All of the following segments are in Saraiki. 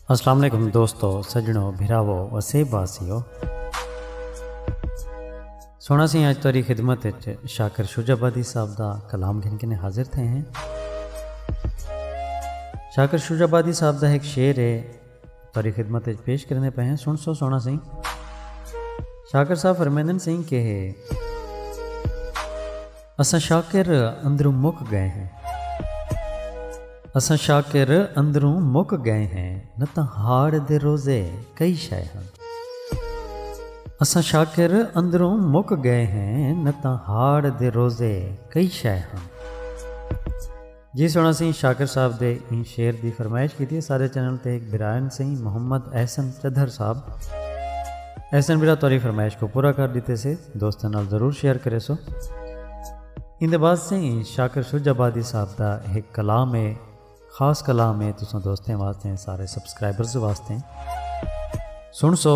السلام علیکم دوستو سجنو بھراو وسیب واسیو سونا سی آج تاری خدمت شاکر شجا بادی صاحب دا کلام گھن کنے حاضر تھے ہیں شاکر شجا بادی صاحب دا ایک شعر ہے تہاݙی خدمت اچ پیش کریندے پئے ہیں سݨ سو سوہݨا سئیں شاکر صاحب فرمیندن سئیں کہ اساں شاکر اندروں مک گئے ہیں اساں شاکر اندروں مک گئے ہیں نہ تاں ہاڑ دے روزے کئی شے ہیں اساں شاکر اندروں مک گئے ہیں نہ تاں ہاڑ دے روزے کئی شے ہیں جی سونا سئیں شاکر صاحب دے ایں شعر دی فرمائش کیتی ہے سارے چینل تے ہک بھرائن سئیں محمد احسن چدھر صاحب احسن بھرا توری فرمائش کو پورا کر دیتے سے دوستاں نال ضرور شیئر کرے سو ان دے بعد سئیں شاکر شج آبادی صاحب دا ہک کلام ہے خاص کلام ہے تساں دوستیں واسطے سارے سبسکرائبرز واسطے سن سو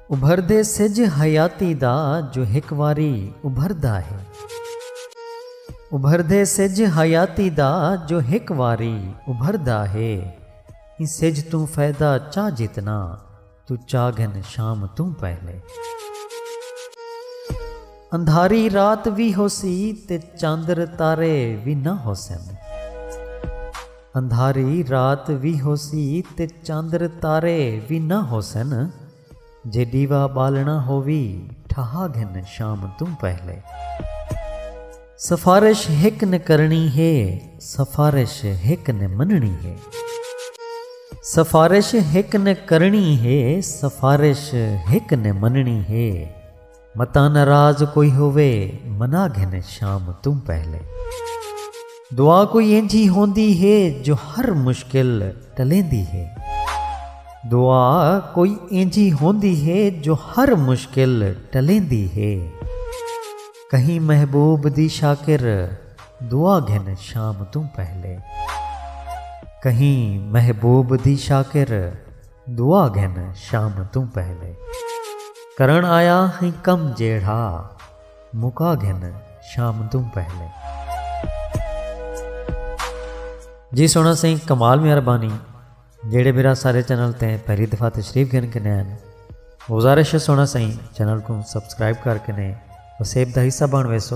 ابھردے سجھ حیاتی دا جو ہک واری ابھردا ہے۔ ابھردے سجھ حیاتی دا جو ہک واری ابھردا ہے۔ ایں سجھ توں فیدہ چا جتنا توں چا گھن شام توں پہلے۔ اندھاری رات وی ہوسی تے چاندر تارے وی نہ ہوسن۔ اندھاری رات وی ہوسی تے چندر تارے وی نہ ہوسن جے ݙیوا ٻالݨا ہووی ٹھہا گھن شام توں پہلے۔ سفارش ہک نے کرݨی ہے سفارش ہک نے منݨی ہے سفارش ہک نے کرݨی ہے سفارش ہک نے منݨی ہے۔ متاں ناراض کوئی ہووے منا گھن شام توں پہلے۔ دعا کوئی اینجھی ہوندی ہے جو ہر مشکل ٹلیندی ہے۔ دعا کوئی اینجھی ہوندی ہے جو ہر مشکل ٹلیندی ہے۔ کہیں محبوب دی شاکر دعا گھن شام توں پہلے۔ کہیں محبوب دی شاکر۔ دعا گھن شام توں پہلے۔ کرݨ آیا ہیں کم جیڑھا۔ مکا گھن شام توں پہلے۔ جی سونا سیں کمال میاں ربانی جیڑے میرا سارے چینل تے پہلی دفعہ تشریف گھن کے نین گزارش ہے سونا سیں چینل کو سبسکرائب کر کے نے وسیب دا حصہ بن ویسو